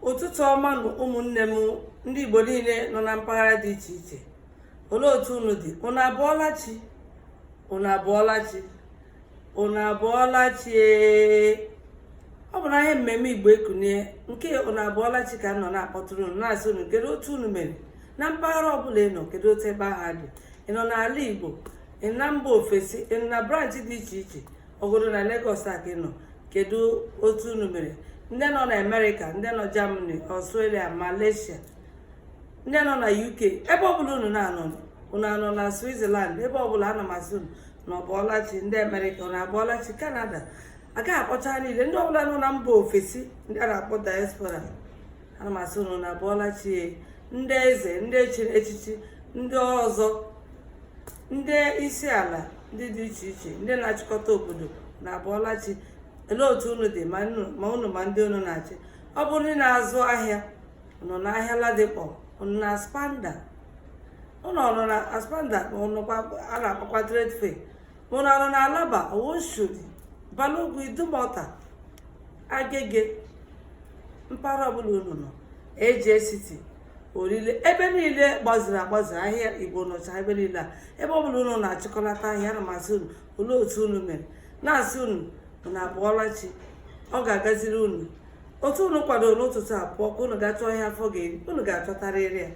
ụtụtụ ọma nụ ụmụnne m ndị Igbo niile nọ na mpaghara dị iche iche olee otu unu dị unu abụọla chi unu abụọla chi unu abụọla chi ọ bụ n'ihe mmemme Igbo ekunie nke unu abụọla chi ka m nọ na-akpọtụrụ unu na-asị unu kedu otu unu mere na mpaghara ọbụla ị nọ kedu otu ebe ahụ dị ị nọ n'ala Igbo ị nọ na mba ofesi ị nọ na branchị dị iche iche ọ bụgodu na Lagos a ka ị nọ kedu otu unu mere ndị nọ na Amerịka ndị nọ Germany Australia Malaysia ndị nọ na UK ebe ọbụla unu na-anọ unu anọ na Switzerland ebe ọbụla ana m asị unu unu abụọla chi ndị Amerịka unu abụọla chi Canada agaghị akpọcha niile ndị ọbụla nọ na mba ofesi ndị a na-akpọ diaspora ana m asị unu unu abụọla chi ndị eze ndị chiri echichi ndị ọzọ ndị isi ala ndị dị iche iche ndị na-achịkọta obodo unu abụọla chi olee otu unu dị ma unu ma ndị unu na-achị ọ bụ ndị na-azụ ahịa unu nọ n'ahịa Ladipo unu na Aspamda unu anọ na Aspamda a na-akpọkwa trade fair unu anọ na Alaba Oshodi Balogun Idumota Agege mpaghara ọbụla unu nọ AJ City Orile ebe niile gbaziri agbazi ahịa igbo nọcha ebe niile a ebe ọbụla unu na-achịkọlata ahịa ana m asị unu olee otu unu mere na-asị unu unu abụọla chi ọ ga-agaziri unu otu unu kwadoro n'ụtụtụ a pụọ ka unu ga-achọ ihe afọ ga-eri unu ga-achọtarịrị ya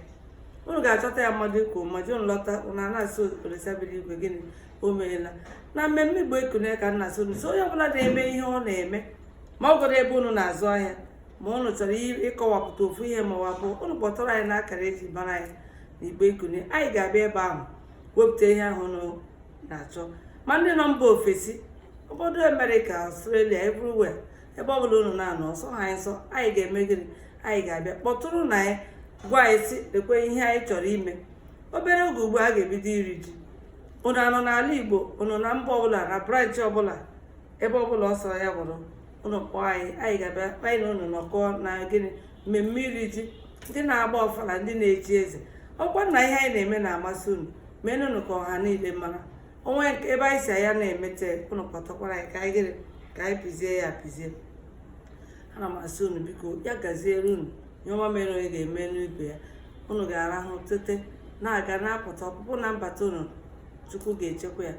unu ga-achọta ya mmadụ ikwu ma ji unu lọta unu ana-asị Olisa bi n'igwe gịnị o meela na mmemme igbo ekunie ka m na-asị unu sị onye ọbụla na-eme ihe ọ na-eme ma ọ bụgodu ebe unu na-azụ ahịa ma unu chọrọ ịkọwapụta ofu ihe ma wapụ unu kpọtụrụ anyị n'akara eji mara anyị na igbo ekunie anyị ga-abịa ebe ahụ wepụta ihe ahụ unu na-achọ ma ndị nọ mba ofesi obodo amerịka Australia everywhere ebe ọ bụla unu na-anọ ọsọ ha anyị nsọ anyị ga-eme gịnị anyị ga-abịa kpọtụrụnụ anyị gwa anyị sị lekwe ihe anyị chọrọ ime obere oge ugbu a a ga-ebido iri ji unu anọ n'ala igbo unu na mba ọbụla na branch ọbụla ebe ọbụla ọ sọrọ ya bụrụ unu kpọọ anyị anyị ga-abịa anyị na unu nọkọọ na gịnị mmemme iri ji ndị na-agba ọfala ndị na-echi eze ọkwa na ihe anyị na-eme ana m asị unu menụnụ ka ọha niile mara o nwee ebe anyị si anya na-emete unu kpọtakwara anyị ka anyị gịnị ka anyị pịzie ya apịzie ana m asị unu biko ya gaziere unu ihe ọma mere onye ga-emenụ ibe ya unu ga-arahụ tete na-aga na-apụta ọpụpụ na mbata unu chukwu ga-echekwa ya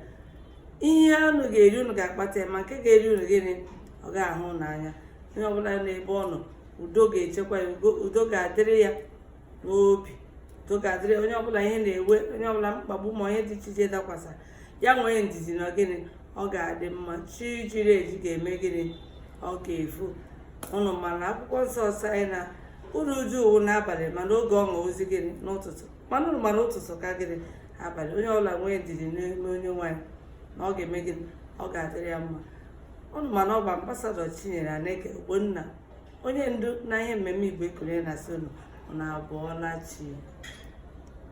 ihe unu ga-eri unu ga-akpata ya ma nke ga-eri unu gịnị ọ gaghị ahụ unu anya onye ọbụla n'ebe ọ nọ udo ga-echekwa ya udo ga-adịrị ya n'obi udo ga-adịrị onye ọbụla ihe na-ewe onye ọbụla mkpagbu ma ihe dị iche iche dakwasara ya nwee ndidi na gịnị ọ ga-adị mma chi jiri eji ga-eme gịnị ọ ga-efo ụnụ ma na akwụkwọ nsọ sị anyị na uru uju wụ n'abalị mana oge ọṅụ wụzi gịnị n'ụtụtụ mana ụnụ ma na ụtụtụ ka gịnị abalị onye ọbụla nwee ndidi n'ime Onyenwe anyị na ọ ga-eme gịnị ọ ga-adịrị ya mma ụnụ ma na ọ bụ ambasadọ Chinyere Aneke Ogbonna onye ndu na ihe mmemme Igbo Ekunie na-asị ụnụ abọọla chi